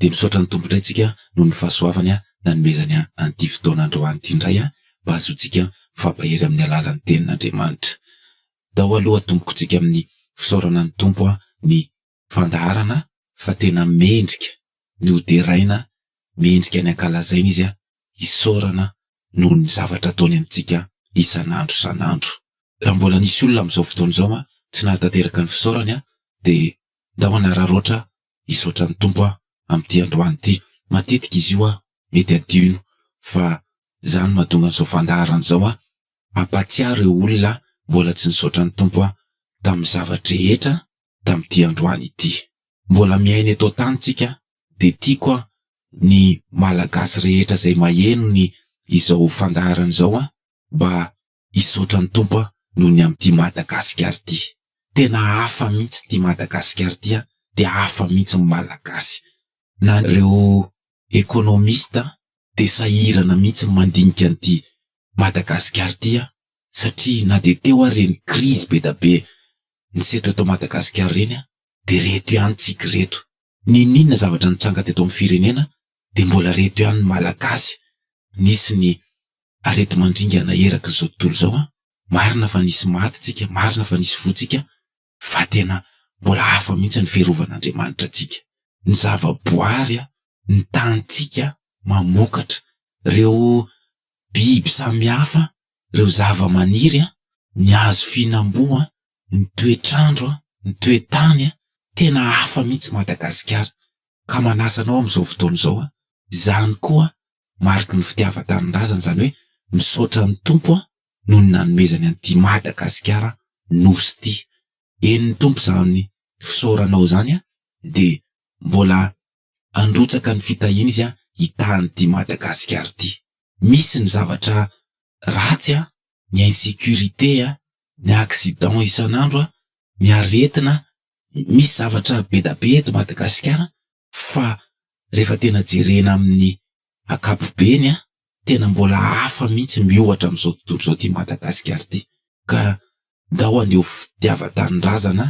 Dia misaotra ny Tompo indray tsika noho ny fahasoavany nanomezany an'ity fotoana androany ity indray mba hahazoantsika mifampahery amin'ny alalan'ny Tenin'Andriamanitra. Tao aloha tompoko tsika amin'ny fisaorana ny Tompo ny fandaharana fa tena mendrika ny ho deraina, mendrika ny ankalazaina Izy, hisaorana noho ny zavatra ataony amintsika isan'andro isan'andro. Raha mbola nisy olona amin'izao fotoana izao tsy nahatanteraka ny fisaorany dia ndao hanararaotra Hisaotra ny Tompo aho amin'ity androany ity. Matetika izy io aho mety adino fa za no mahatonga an'izao fandaharana izao aho. Ampahatsiaro ireo olona aho mbola tsy nisaotra ny Tompo aho tamin'ny zava-drehetra tamin'ity androany ity. Mbola miaina eto an-tany tsika dia tiako aho ny Malagasy rehetra izay maheno ny izao fandaharana izao aho mba Hisaotra ny Tompo aho noho ny amin'ity Madagasikara ity. Tena hafa mihitsy ity Madagasikara ity an, dia hafa mihitsy ny Malagasy. Na ireo economiste dia sahirana mihitsy ny mandinika an'ity Madagasikara ity an, satria na dia teo ary ireny krizy be da be niseho teto Madagasikara ireny an, dia reto ihany tsiky ireto. N'inon'inona zavatra nitranga teto amin'ny firenena dia mbola reto ihany ny Malagasy nisy ny areti-mandringana eraky izao tontolo izao an! Marina fa nisy maty tsika, marina fa nisy voa tsika, fa tena mbola hafa mihitsy ny fiarovan'Andriamanitra antsika. Ny zava-boary an, ny tanintsika mamokatra, ireo biby samy hafa, ireo zava-maniry an, ny hazo fihinam-boa an, ny toetr'andro an, ny toe-tany an, tena hafa mihitsy Madagasikara. Ka manasa anao amin'izao fotoana izao aho, izany koa Mariky ny fitiavan-tanindrazana izany hoe misaotra ny Tompo aho noho ny nanomezany an'ity Madagasikara Nosy ity. Henon'ny Tompo izany fisaoranao izany an, dia mbola handrotsaka ny fitahiana Izy hitaha an'ity Madagasikara ity. Misy ny zavatra ratsy an, ny insécurité an, ny accident isan'andro an, ny aretina, misy zavatra bedabe eto Madagasikara Fa rehefa tena jerena amin'ny ankapobeny an, tena mbola hafa mihitsy miohatra amin'izao tontolo izao ity Madagasikara ity. Ka ndao handeha ho fitiavan-tanindrazana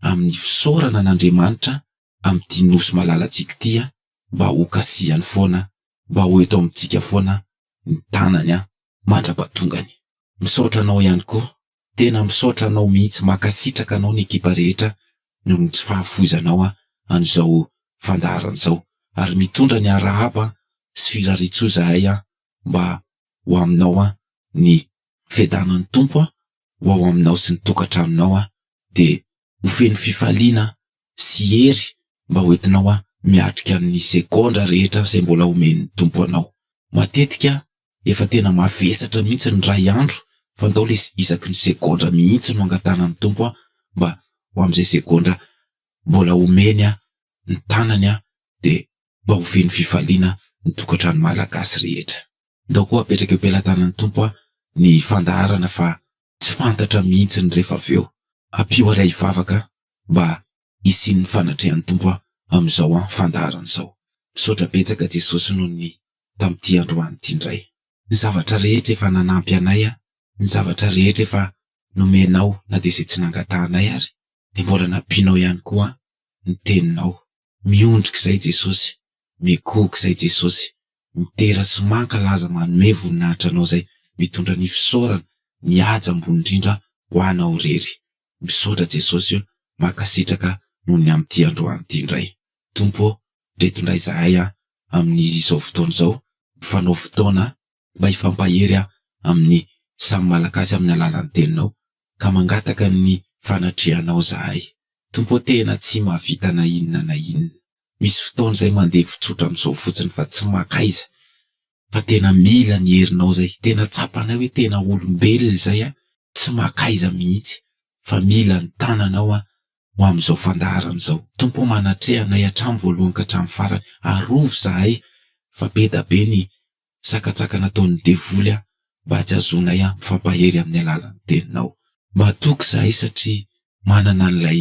amin'ny fisaorana an'Andriamanitra amin'ity Nosy malalantsika ity an, mba ho kasihany foana, mba ho eto amintsika foana ny tanany an, mandra-pahatongany. Misaotra anao ihany koa Tena misaotra anao mihitsy makasitraka anao ny ekipa rehetra noho ny tsy fahafoizanao ahy an'izao fandaharana izao ary mitondra ny arahaba sy firariantsoa izahay aho mba ho aminao aho ny fiadanan'ny Tompo aho ho ao aminao sy ny tokantranonao aho dia ho feno fifaliana sy hery mba ho entinao aho miatrika ny segondra rehetra izay mbola omen'ny Tompo anao matetika Efa tena mavesatra mihitsy ny ray andro fa ndao lesy isaky ny segondra mihitsy no angatahana ny Tompo an mba ho amin'izay segondra mbola omeny an ny tanany an dia mba ho feno fifaliana ny tokantrano malagasy rehetra. Ndao koa apetraka eo pelatanan'ny Tompo an ny fandaharana fa tsy fantatra mihitsy ny refa avy eo. Ampio ary ahy hivavaka mba hisian'ny fanatrehan'ny Tompo aho amin'izao an fandaharana izao. Misaotra betsaka Jesosy noho ny tamin'ity androany ity indray. Ny zavatra rehetra efa nanampy anay an, ny zavatra rehetra efa nomenao na dia izay tsy nangatahanay ary dia mbola nampianao ihany koa an, ny teninao. Miondrika izay Jesosy, mikohoka izay Jesosy, midera sy mankalaza manome voninahitra anao izay mitondra ny fisaorana, ny haja ambony indrindra ho anao irery. Misaotra Jesosy o, mankasitraka noho ny amin'ity androany ity indray. Tompo ô, reto indray izahay a, amin'izao fotoana izao, mifanao fotoana mba hifampahery aho amin'ny samy Malagasy amin'ny alalan'ny Teninao, ka mangataka ny fanatrehanao izahay. Tompo ô, tena tsy mahavita na inona na inona. Misy fotoana izay mandeha fotsotra amin'izao fotsiny fa tsy makaiza, fa tena mila ny herinao izay. Tena tsapanay hoe tena olombelona izay aho, tsy makaiza mihitsy fa mila ny tananao aho ho amin'izao fandaharana izao. Tompo o manatreha anay hatramin'ny voalohany ka hatramin'ny farany, arovy zahay fa be da be ny sakatsaka nataon'ny devoly aho mba tsy hahazoanay aho mifampahery amin'ny alalan'ny teninao. Matoky zahay satria manana an'ilay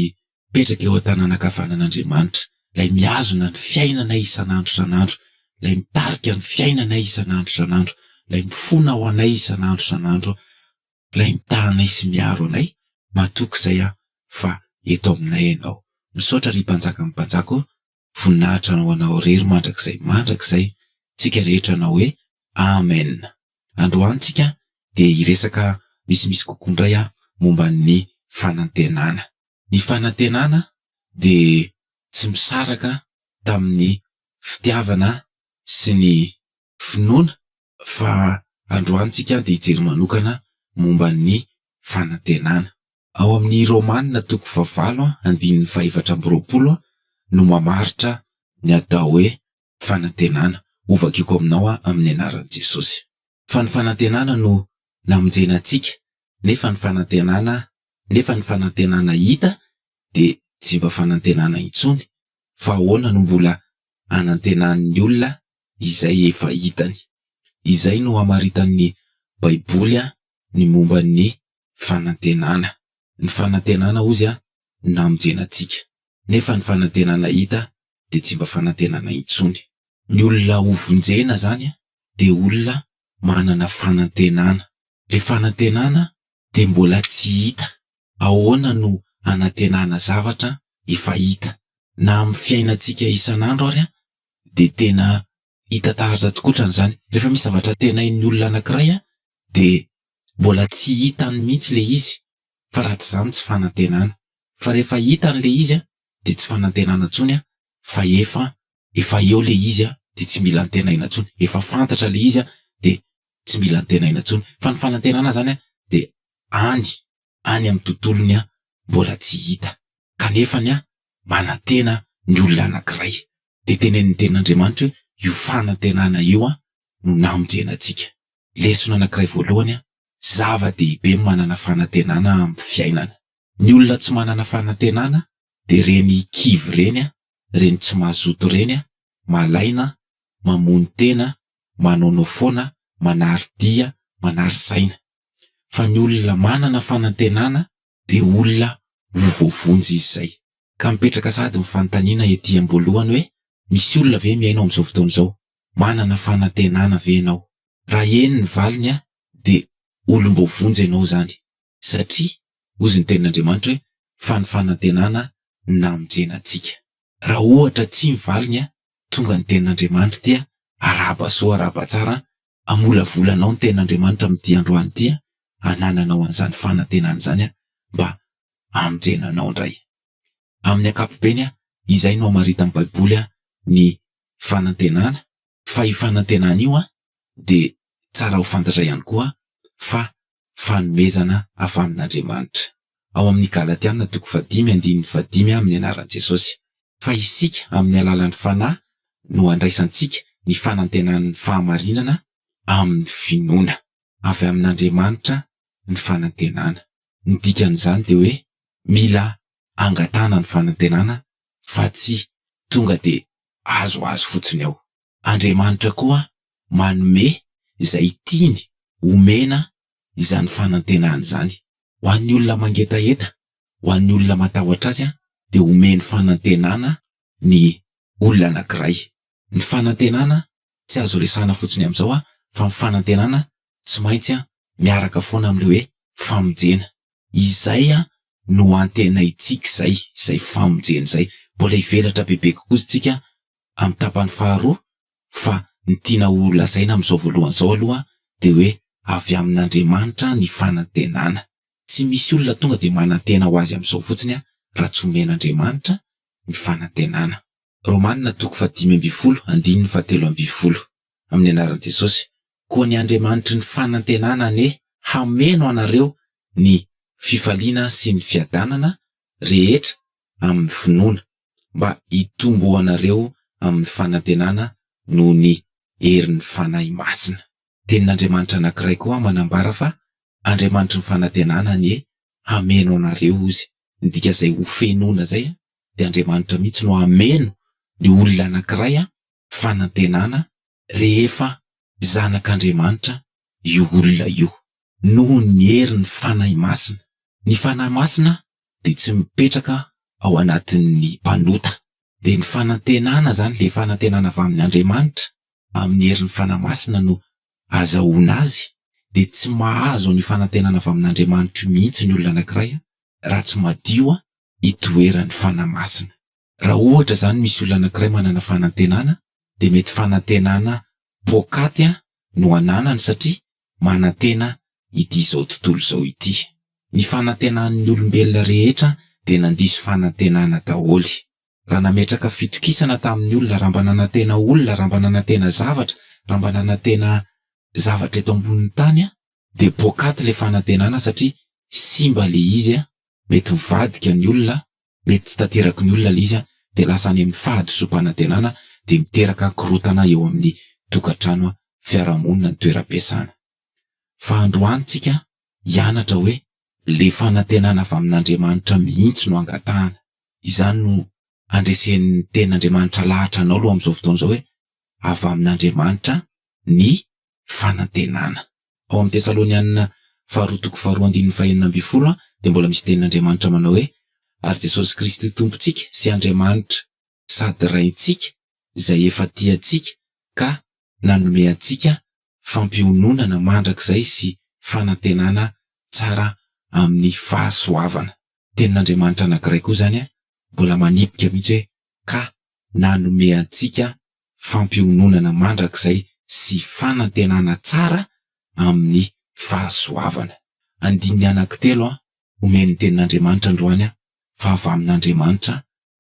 mipetraka eo an-tanana ankavanan'Andriamanitra, Ilay mihazona ny fiainanay isan'andro isan'andro, Ilay mitarika ny fiainanay isan'andro isan'andro, Ilay mifona ho anay isan'andro isan'andro, Ilay mitaha anay sy miaro anay, matoky izay aho fa eto aminay Ianao. Misaotra ry Mpanjakan'ny mpanjaka ô, voninahitra ho Anao irery mandrakizay mandrakizay, tsika rehetra hanao hoe, Amen. Androany tsika dia hiresaka misimisy kokoa indray momba ny fanantenana. ny fanantenana dia tsy misaraka tamin'ny fitiavana sy ny finoana fa androany tsika dia hijery manokana momba ny fanantenana. Ao amin'ny Romana toko fahavalo andininy fahefatra amby roapolo no mamaritra ny atao hoe fanantenana, ho vakiko aminao amin'ny anaran'i Jesosy. Fa ny fanantenana no namonjena antsika nefa ny fanantenana nefa ny fanantenana hita dia tsy mba fanantenana intsony fa ahoana no mbola anantenan'ny olona izay efa hitany? Izay no hamaritan'ny baiboly ny momba ny fanantenana. Ny fanantenana ozy namonjena antsika nefa ny fanantenana hita dia tsy mba fanantenana intsony. Ny olona ho vonjena izany dia olona manana fanantenana. Ilay fanantenana dia mbola tsy hita. Ahoana no hanantenana zavatra efa hita? Na amin'ny fiainantsika isan'andro ary dia tena hita taratra tokoa hatrany izany. Rehefa misy zavatra tenain'ny olona anankiray dia mbola tsy hitany mihitsy ilay izy fa raha tsy izany tsy fanantenana. Fa rehefa hitany ilay izy de tsy fanantenana tsony a fa efa efa eo le izy a de tsy mila antenaina tsony efa fantatra le izy a de tsy mila antenaina tsony fa ny fanantenana zany a de any any am tontolony a mbola tsy hita kanefany a manantena ny olona anakiray de tenenin'ny tenin'Andriamanitra hoe io fanantenana io a no namonjena antsika lesona anakiray voalohany a zava-dehibe ny manana fanantenana am fiainana. Ny olona tsy manana fanantenana dia reny kivy ireny a, reny tsy mazoto ireny a, malaina, mamono tena, manaonao foana, manary dia, manary saina. Fa ny olona manana fanantenana dia olona ho voavonjy izy izay. Ka mipetraka sahady ny fanontaniana ety am-boalohany hoe, misy olona ve mihaino amin'izao fotoana izao? Manana fanantenana ve ianao? Raha eny ny valiny a, dia olom-boavonjy ianao izany. satria hozy ny tenin'Andriamanitra hoe fa ny fanantenana namonjena antsika. Raha ohatra tsia ny valiny tonga ny tenin'Andriamanitra dia arahaba soa arahaba tsara hamolavola anao ny tenin'Andriamanitra amin'ity androany ity hanananao an'izany fanantenana izany mba hamonjena anao indray. Amin'ny ankapobeny izay no hamaritan'ny baiboly ny fanantenana. Fa io fanantenana io dia tsara ho fantatra ihany koa fa fanomezana avy amin'Andriamanitra. Ao amin'ny Galatiana toko fahadimy andininy fahadimy amin'ny anaran'i Jesosy. Fa isika amin'ny alalan'ny Fanahy no andraisantsika ny fanantenan'ny fahamarinana amin'ny finoana. Avy amin'Andriamanitra ny fanantenana. Ny dikan'izany dia hoe mila angatahana ny fanantenana fa tsy tonga dia azo azy fotsiny ao. Andriamanitra koa manome izay tiany homena izany fanantenany izany. Ho an'ny olona mangetaheta, ho an'ny olona matahotra azy dia omeny fanantenana ny olona anankiray. Ny fanantenana tsy azo resahana fotsiny amin'izao fa ny fanantenana tsy maintsy miaraka foana amin'ilay hoe famonjena. Izay no antenaintsika izay, izay famonjena izay. Mbola hivelatra bebe kokoa isika amin'ny tapany faharoa, fa ny tiana ho lazaina amin'izao voalohany izao aloha dia hoe avy amin'Andriamanitra ny fanantenana. Tsy misy olona tonga dia manantena ho azy amin'izao fotsiny raha tsy omen'Andriamanitra ny fanantenana. Romana toko fahadimy ambin'ny folo, andininy fahatelo ambin'ny folo. Amin'ny anaran'i Jesosy, koa ny Andriamanitry ny fanantenana anie hameno anareo ny fifaliana sy ny fiadanana rehetra amin'ny finoana, mba hitomboanareo amin'ny fanantenana noho ny herin'ny Fanahy Masina. Tenin'Andriamanitra anankiray koa manambara fa Andriamanitry ny fanantenana anie hameno anareo Ozy, midika izay ho fenoina izay dia Andriamanitra mihitsy no hameno ny olona anankiray fanantenana rehefa zanak'Andriamanitra io olona io, noho ny herin'ny Fanahy Masina. Ny Fanahy Masina dia tsy mipetraka ao anatin'ny mpanota. Dia ny fanantenana izany, ilay fanantenana avy amin'Andriamanitra, amin'ny herin'ny Fanahy Masina no azahoana azy, dia tsy mahazo an'io fanantenana avy amin'Andriamanitra io mihitsy ny olona anankiray raha tsy madio itoeran'ny Fanahy Masina. Raha ohatra izany misy olona anankiray manana fanantenana dia mety fanantenana poakaty no ananany satria manantena ity izao tontolo izao ity. Ny fanantenan'ny olombelona rehetra dia nandiso fanantenana daholo. Raha nametraka fitokisana tamin'ny olona, raha mba nanantena olona, raha mba nanantena zavatra, raha mba nanantena zavatra eto ambonin'ny tany dia poakaty ilay fanantenana satria simba ilay izy, mety mivadika ny olona Mety tsy tanteraky ny olona ilay izy dia lasa any amin'ny fahadisoam-panantenana dia miteraka korontana eo amin'ny tokantrano, fiarahamonina, ny toeram-piasana. Fa androany tsika hianatra hoe ilay fanantenana avy amin'Andriamanitra mihitsy no angatahana. Izany no andresen'ny tenin'Andriamanitra lahatra anao aloha amin'izao fotoana izao hoe avy amin'Andriamanitra ny fanantenana. Ao amin'ny Tesalonianina faharoa toko faharoa andininy fahenina ambin'ny folo dia mbola misy tenin'Andriamanitra manao hoe, Ary Jesosy Kristy Tompontsika sy Andriamanitra sady Raintsika izay efa tia antsika ka nanome antsika fampiononana mandrakizay sy fanantenana tsara amin'ny fahasoavana. Tenin'Andriamanitra anankiray koa izany mbola manipika mihitsy hoe, ka nanome antsika fampiononana mandrakizay sy fanantenana tsara amin'ny fahasoavana. Andininy anankitelo an, omen'ny Tenin'Andriamanitra androany an, fa avy amin'Andriamanitra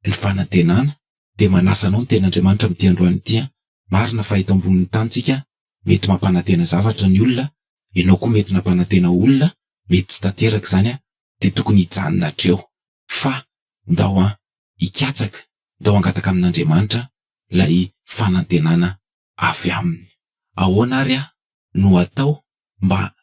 ny fanantenana, dia manasa anao ny Tenin'Andriamanitra amin'ity androany ity an, marina fa eto ambonin'ny tanintsika mety mampanantena zavatra ny olona, ianao koa mety nampanantena olona, mety tsy tanteraka izany an, dia tokony hijanona hatreo, fa ndao an, hikatsaka dia ho hangataka amin'Andriamanitra ilay fanantenana avy aminy. Ahoana àry no hatao mba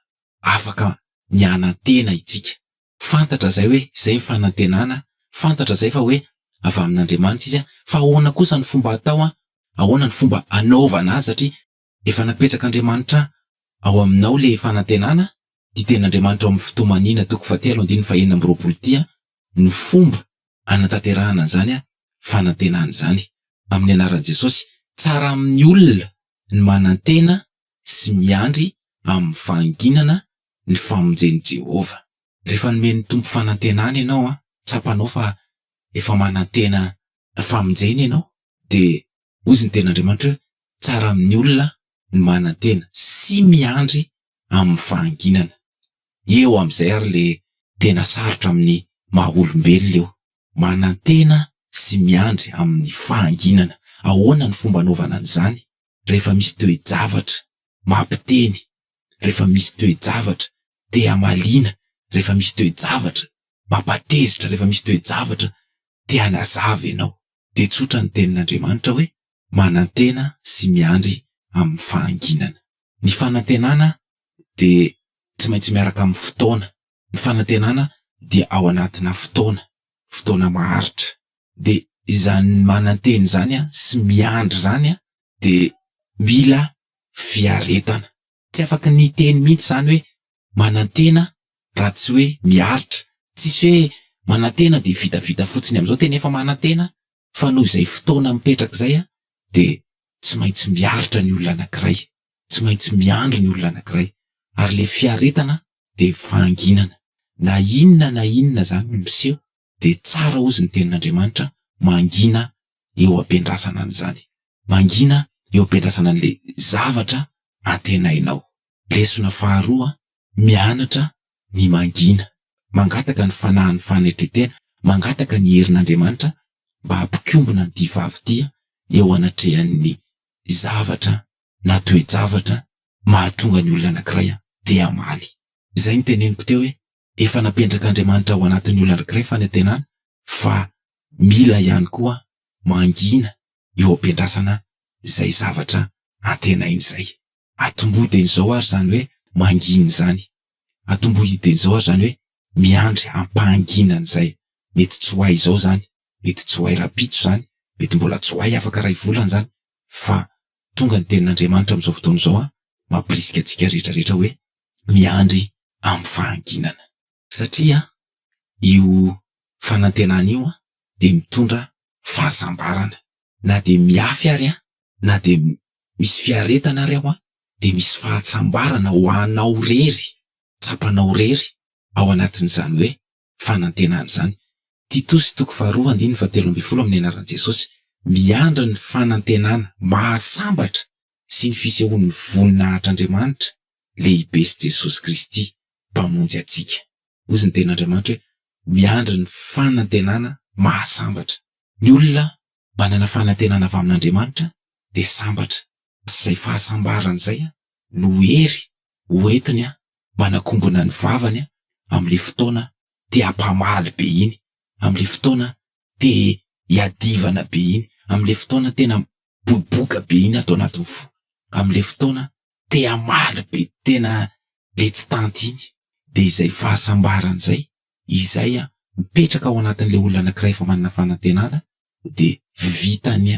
afaka mianantena isika? Fantatra izay hoe izay ny fanantenana, fantatra izay fa hoe avy amin'Andriamanitra izy, fa ahoana kosa ny fomba hatao, ahoana ny fomba hanaovana azy satria Efa napetrak'Andriamanitra ao aminao le fanantenana tia ten'Andriamanitra ao amin'ny fitomaniana toko fahatelo andininy fahenina amby roapolo tia no fomba anatanterahana an'izany fanantenana izany amin'ny anaran'i Jesosy. Tsara amin'ny olona ny manantena sy miandry amin'ny fahanginana ny famonjen'i Jehovah. Rehefa nomen'ny Tompo fanantenana ianao, tsapanao fa efa manantena fa monjena ianao dia hozy ny tenin'Andriamanitra hoe, tsara amin'ny olona ny manantena sy miandry amin'ny fahanginana. Eo amin'izay ary ilay tena sarotra amin'ny maha olombelona eo, manantena sy miandry amin'ny fahanginana. Ahoana ny fomba anaovana an'izany? Rehefa misy toe-javatra mampiteny, rehefa misy toe-javatra te-hamaliana, rehefa misy toe-javatra mampatezitra, rehefa misy toe-javatra te hanazava ianao, dia tsotra ny Tenin'Andriamanitra hoe, Manantena sy miandry amin'ny fahanginana. Ny fanantenana dia tsy maintsy miaraka amin'ny fotoana. Ny fanantenana dia ao anatina fotoana, fotoana maharitra. Dia izany manantena izany sy miandry izany dia mila fiaretana. Tsy afaka ny hiteny mihitsy izany hoe manantena raha tsy hoe miaritra. Tsisy hoe manantena dia vitavita fotsiny amin'izao, tena efa manantena fa noho izay fotoana mipetraka izay dia tsy maintsy miaritra ny olona anankiray, tsy maintsy miandry ny olona anankiray ary ilay fiaretana dia vanginana na inona na inona izany no miseho. dia tsara hozy ny tenin'Andriamanitra mangina eo ampiandrasana an'izany. Mangina eo ampiandrasana an'ilay zavatra antenainao. Lesona faharoa, mianatra ny mangina. Mangataka ny fanahin'ny fanetren-tena, mangataka ny herin'Andriamanitra mba hampikombona ny divavy tia eo anatrehan'ny zavatra na toe-javatra mahatonga ny olona anankiray te-hamaly. Izay no teneniko teo hoe Efa napendrak'Andriamanitra ao anatin'ny olona anankiray fanantenana fa mila ihany koa mangina eo am-piandrasana izay zavatra antenainy izay. Atombohy dieny izao ary izany hoe mangina izany. Atombohy dieny izao ary izany hoe miandry am-pahanginana izay. Mety tsy ho hay izao izany, mety tsy ho hay rahampitso izany, mety mbola tsy ho hay afaka iray volana izany, fa tonga ny tenin'Andriamanitra amin'izao fotoana izao mampirisika antsika rehetra rehetra hoe miandry amin'ny fahanginana. Satria io fanantenana io dia mitondra fahasambarana. Na dia mihafy ary an, na dia misy fiaretana ary aho an, dia misy fahatsambarana ho anao irery, tsapanao irery ao anatin'izany hoe fanantenana izany. Titosy toko faharoa andininy fahatelo ambin'ny folo Amin'ny anaran'i Jesosy, miandry ny fanantenana mahasambatra sy ny fisehoan'ny voninahitr'Andriamanitra lehibe sy Jesosy Kristy Mpamonjy antsika. Hoy ny Tenin'Andriamanitra hoe, Miandry ny fanantenana mahasambatra. Ny olona Manana fanantenana avy amin'Andriamanitra dia sambatra. Izay fahasambarany izay no hery hoentiny manakongona ny vavany amin'ilay fotoana te hampamaly be iny, amin'ilay fotoana te hiadivana be iny, amin'ilay fotoana tena miboiboika be iny ato anatin'ny fo, amin'ilay fotoana te hamaly be tena letsy tanty iny. Dia izay fahasambarany izay izay mipetraka ao anatin'ilay olona anankiray efa manana fanantenana dia vitany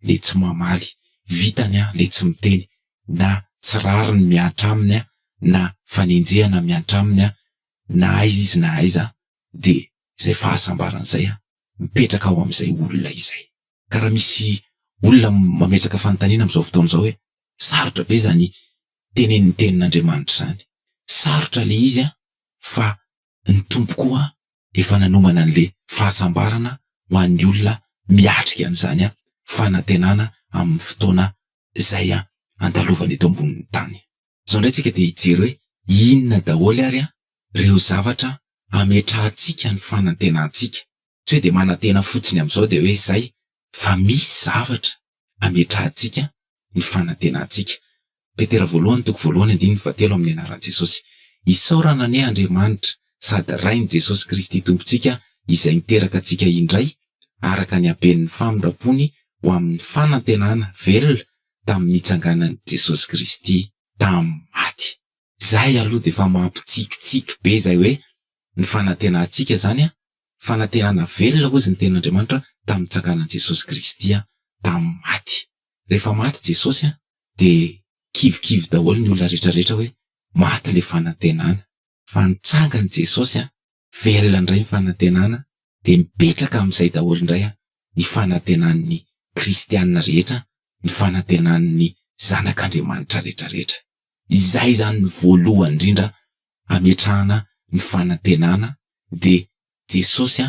ilay tsy mamaly, vitany ilay tsy miteny na tsy rariny mihatra aminy na fanenjehana mihatra aminy na aiza izy na aiza dia izay fahasambarana izay mipetraka ao amin'izay olona izay. Ka raha misy olona mametraka fanontaniana amin'izao fotoana izao hoe sarotra ve izany tenenin'ny tenin'Andriamanitra izany? Sarotra ilay izy an! fa ny Tompo koa efa nanomana an'le fahasambarana ho an'ny olona miatrika an'izany fanantenana amin'ny fotoana izay andalovany eto ambonin'ny tany. Zao ndray tsika dia hijery hoe inona daholo ary reo zavatra ametrahantsika ny fanantenantsika, tsy hoe dia manantena fotsiny amzao dia hoe zay fa misy zavatra hametrahantsika ny fanantenantsika. Petera voalohany toko voalohany andininy fahatelo amin'ny anaran'i Jesosy. Isaorana anie Andriamanitra sady Rain'i Jesosy Kristy Tompontsika izay niteraka antsika indray araka ny haben'ny famindram-pony ho amin'ny fanantenana velona tamin'ny nitsanganan'i Jesosy Kristy tamin'ny maty. Izay aloha dia efa mampitsikitsiky be izay hoe ny fanantenantsika izany fanantenana velona hozy ny tenin'Andriamanitra tamin'ny nitsanganan'i Jesosy Kristy tamin'ny maty. Rehefa maty Jesosy dia kivikivy daholo ny olona rehetrarehetra hoe maty ilay fanantenana. Fa nitsangan'i Jesosy, velona indray ny fanantenana, dia mipetraka amin'izay daholo indray ny fanantenan'ny kristiana rehetra, ny fanantenan'ny zanak'Andriamanitra rehetrarehetra. Izay izany ny voalohany indrindra hametrahana ny fanantenana dia Jesosy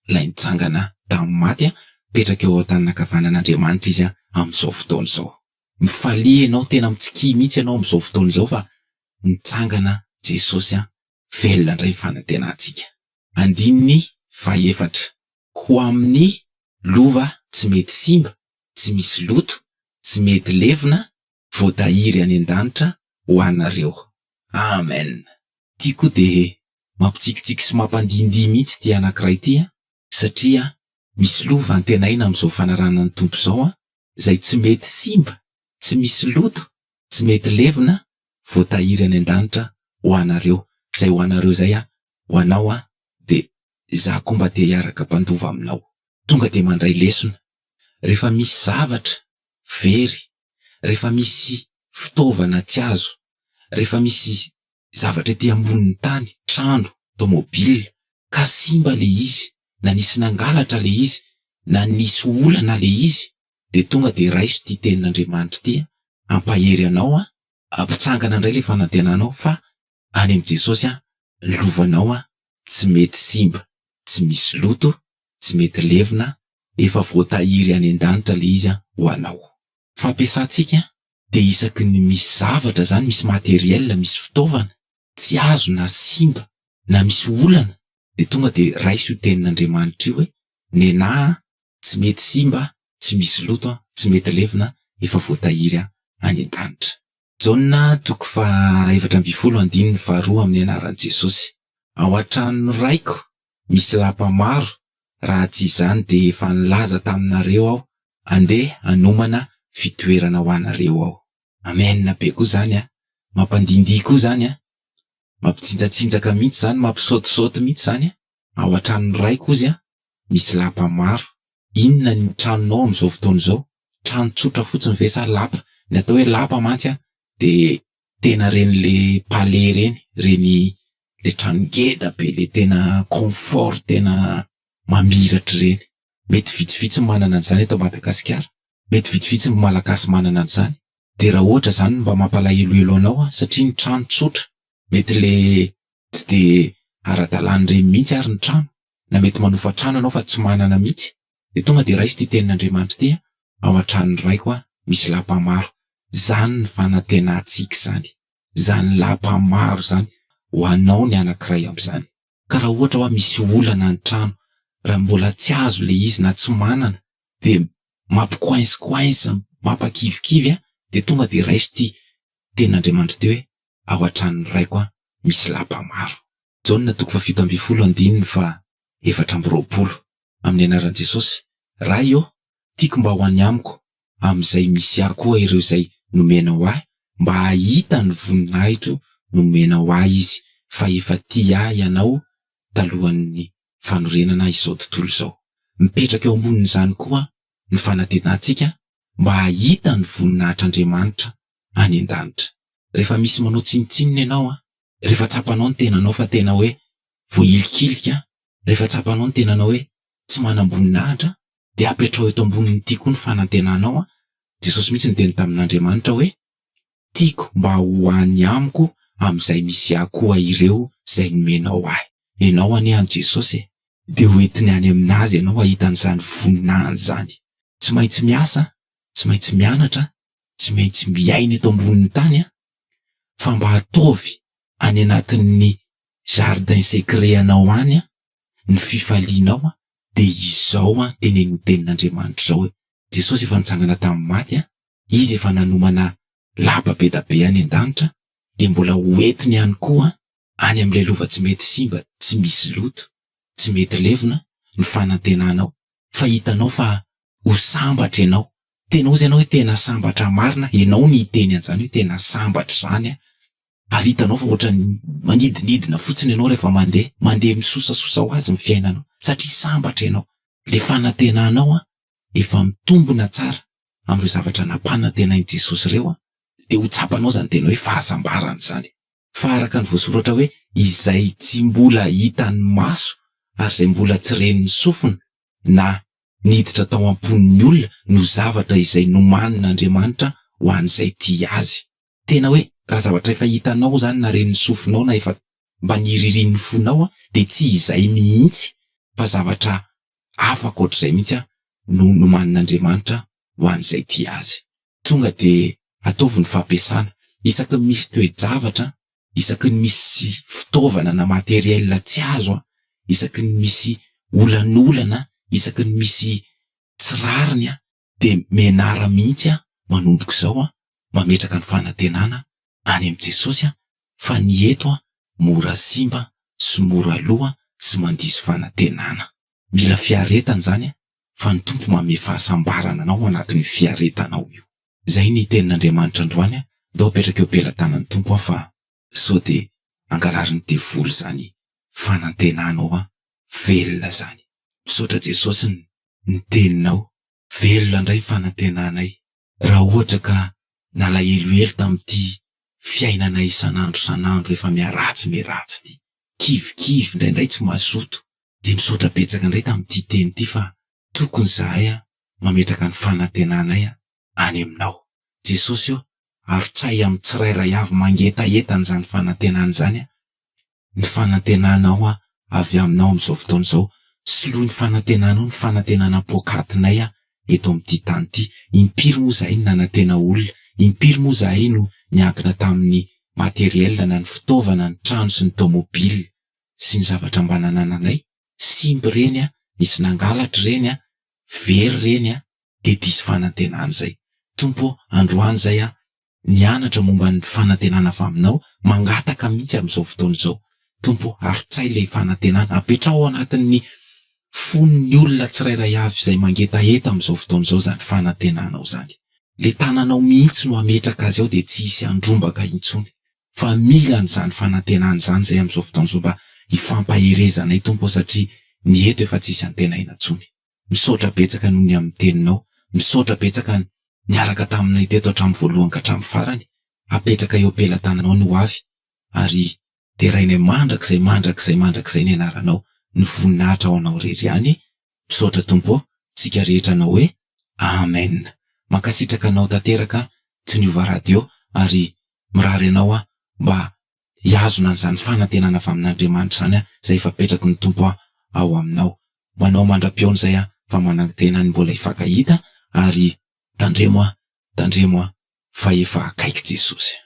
ilay nitsangana tamin'ny maty, mipetraka eo an-tanana ankavanan'Andriamanitra Izy amin'izao fotoana izao. Mifalia ianao, tena mitsikia mihitsy ianao amin'izao fotoana izao fa nitsangana Jesosy, velona indray ny fanantenantsika. Andininy fahefatra. Ho amin'ny lova tsy mety simba, tsy misy loto, tsy mety levona, voatahiry any an-danitra ho anareo. Amen. Ity koa dia mampitsikitsiky sy mampandihindihy mihitsy ity anankiray ity an, satria misy lova antenaina amin'izao fanarahana ny Tompo izao an, izay tsy mety simba, tsy misy loto, tsy mety levona, voatahiry any an-danitra ho anareo. Izay ho anareo izay an, ho anao an, dia izaho koa mba te hiaraka mpandova aminao. Tonga dia mandray lesona. Rehefa misy zavatra very rehefa misy fitaovana tsy azo, rehefa misy zavatra ety ambonin'ny tany, trano, tomobil, ka simba ilay izy, na nisy nangalatra ilay izy, na nisy olana ilay izy, dia tonga dia raiso ity tenin'Andriamanitra ity, Hampahery anao aho, hampitsangana indray ilay fanantenanao, fa any amin'i Jesosy aho, ny lovanao aho tsy mety simba, tsy misy loto, tsy mety levona, efa voatahiry any an-danitra ilay izy ho anao. Fampiasantsika dia isaky ny misy zavatra izany, misy matériel, misy fitaovana, tsy azo na simba, na misy olana, dia tonga dia raiso io tenin'Andriamanitra io hoe, nenà aho, tsy mety simba, tsy misy loto, tsy mety levona, efa voatahiry aho any an-danitra. Jaona toko faha efatra ambin'ny folo andininy faha roa amin'ny anaran'i Jesosy. Ao an-tranon'ny Raiko misy lapa maro, raha tsy izany dia efa nilaza taminareo aho, andeha hanomana fitoerana ho anareo aho. Amen be koa zany a! Mampandindihy koa zany a! Mampitsinjatsinjaka mihitsy zany, mampisaotisaoty mihitsy zany a! Ao an-tranon'ny raiko ozy an, misy lapa maro. Inona ny tranonao amin'izao fotoana izao? Trano tsotra fotsiny ve sa lapa? Ny atao hoe lapa mantsy an, dia tena ireny le palais ireny, ireny le trano ngeda be le tena confort tena mamiratra ireny. Mety vitsivitsy ny manana an'izany eto Madagasikara. Mety vitsivitsy ny Malagasy manana an'izany. de raha ohatra zany mba mampalahelohelo anao an, satria ny trano tsotra, mety le tsy de ara-dalan'ireny mihitsy ary ny trano, na mety manofa trano ianao fa tsy manana mihitsy, de tonga de raiso ity tenin'Andriamanitra ity an, ao an-tranon'ny raiko an, misy lapa maro, zany ny fanantenantsika izany, zany lapa maro zany ho anao ny anankiray amin'izany. ka raha ohatra hoa misy olana ny trano raha mbola tsy azo le izy na tsy manana de mampi coince coince mampakivikivy an de tonga de raiso ty tenin'Andriamanitra ty hoe ao an-tranon'ny raiko an misy lapa maro. Jaona toko fahafito ambin'ny folo andininy faha efatra amby roapolo, amin'ny anaran'i Jesosy, Ray ô, Tiako mba ho any amiko amin'izay misy ahy koa ireo izay nomenao ahy mba hahita ny voninahitro nomenao ahy izy fa efa tia ahy ianao talohan'ny fanorenana izao tontolo izao. Mipetraka eo ambonin'izany koa ny fanatenatsika mba hahita ny voninahitr'Andriamanitra any an-danitra. Rehefa misy manao tsinontsinona ianao an, rehefa tsapanao ny tenanao fa tena hoe voahilikilika an, rehefa tsapanao ny tenanao hoe tsy manam-boninahitra dia apetraho eto amboniny ity koa ny fanantenanao an, Jesosy mihitsy niteny tamin'Andriamanitra hoe, tiako mba ho any amiko amin'izay misy ahy koa ireo izay nomenao ahy, ianao anie any Jesosy e, dia ho entiny any amin'azy ianao hahita an'izany voninahiny izany, tsy maintsy miasa, tsy maintsy mianatra, tsy maintsy miaina eto ambonin'ny tany an, fa mba ataovy any anatin'ny jardin secret anao any an, ny fifalianao an, dia izao an tenenin'ny tenin'Andriamanitra izao hoe, Jesosy efa nitsangana tamin'ny maty an, Izy efa nanomana lapa be da be any an-danitra, dia mbola ho entiny ihany koa an, any amin'ilay lova tsy mety simba, tsy misy loto, tsy mety levona, ny fanantenanao, fa hitanao fa ho sambatra ianao, tena ozy ianao hoe tena sambatra marina, ianao no hiteny an'izany hoe tena sambatra izany an, ary hitanao fa ohatrany manidinidina fotsiny ianao rehefa mandeha, mandeha misosasosa ho azy ny fiainanao satria sambatra ianao, le fanantenanao an, efa mitombona tsara amin'ireo zavatra nampanantenain'i Jesosy ireo an, dia ho tsapanao izany tena hoe fahasambarana izany, fa araka ny voasoratra hoe izay tsy mbola hitan'ny maso ary izay mbola tsy ren'ny sofina na niditra tao am-pon'ny olona no zavatra izay nomanin'Andriamanitra ho an'izay tia Azy. Tena hoe raha zavatra efa hitanao zany na ren'ny sofinao na efa mba niririan'ny fonao an dia tsy izay mihitsy fa zavatra hafa ankoatr'izay mihitsy an no nomanin'Andriamanitra ho an'izay tia Azy. Tonga dia ataovy ny fampiasana. Isaky ny misy toe-javatra an, isaky ny misy fitaovana na matériel tsy azo an, isaky ny misy olan'olana an, isaky ny misy tsy rariny an, dia mianara mihitsy aho manomboka izao an, mametraka ny fanantenana any amin'i Jesosy an, fa ny eto an mora simba sy mora lo an sy mandiso fanantenana. Mila fiaretana izany an, fa ny Tompo manome fahasambarana anao ao anatin'io fiaretanao io. Izay ny tenin'Andriamanitra androany an, ndao apetraka eo pelatanan'ny Tompo aho fa sao de angalarin'ny devoly zany fanantenanao an! velona zany! Misaotra Jesosy ny teninao. Velona ndray fanantenanay. Raha ohatra ka nalahelohelo tamin'ity fiainana isan'andro isan'andro efa miharatsy miharatsy ity, kivikivy, indraindray tsy mazoto, dia misaotra betsaka indray tamin'ity teny ity fa tokony izahay mametraka ny fanantenanay any aminao. Jesosy ô, avotsahy amin'ny tsirairay avy mangetaheta an'izany fanantenana izany aho. Ny fanantenanao aho avy aminao amin'izao fotoana izao. Soloy ny fanantenanao ny fanantenana poakatinay aho eto amin'ity tany ity. Impiry moa izahay no nanantena olona, impiry moa izahay no niankina tamin'ny matériel na ny fitaovana, ny trano sy ny tomobile sy ny zavatra mba nanananay. Simba ireny an, nisy nangalatra ireny an, very ireny an. dia diso fanantenana izay. Tompo ô, androany izay aho nianatra momba ny fanantenana avy Aminao, mangataka mihitsy amin'izao fotoana izao, Tompo ô, arotsay ilay fanantenana, apetraho ao anatin'ny fon'ny olona tsirairay avy izay mangetaheta amin'izao fotoana izao izany fanantenanao izany. Ilay tananao mihitsy no hametraka azy ao dia tsy hisy handrombaka intsony, fa mila an'izany fanantenana izany izay amin'izao fotoana izao mba hifampaherezanay Tompo ô, satria ny eto efa tsy hisy antenaina intsony. Misaotra betsaka noho ny amin'ny teninao. Misaotra betsaka ny niaraka taminay teto hatramin'ny voalohany ka hatramin'ny farany. Apetraka eo am-pelatananao ny hoavy ary derainay mandrakizay, mandrakizay, mandrakizay ny anaranao, ny voninahitra ho anao irery ihany. Misaotra Tompo ô, tsika rehetra hanao hoe Amen. Mankasitraka anao tanteraka Toniova Radio ary mirary anao aho mba Hihazona an'izany fanantenana avy amin'Andriamanitra izany aho, izay efa apetraky ny Tompo aho ao aminao. Manao mandra-pihaona izay aho, fa manangi-tena ny mbola hifankahita, ary tandremo aho, tandremo aho, fa efa akaiky Jesosy.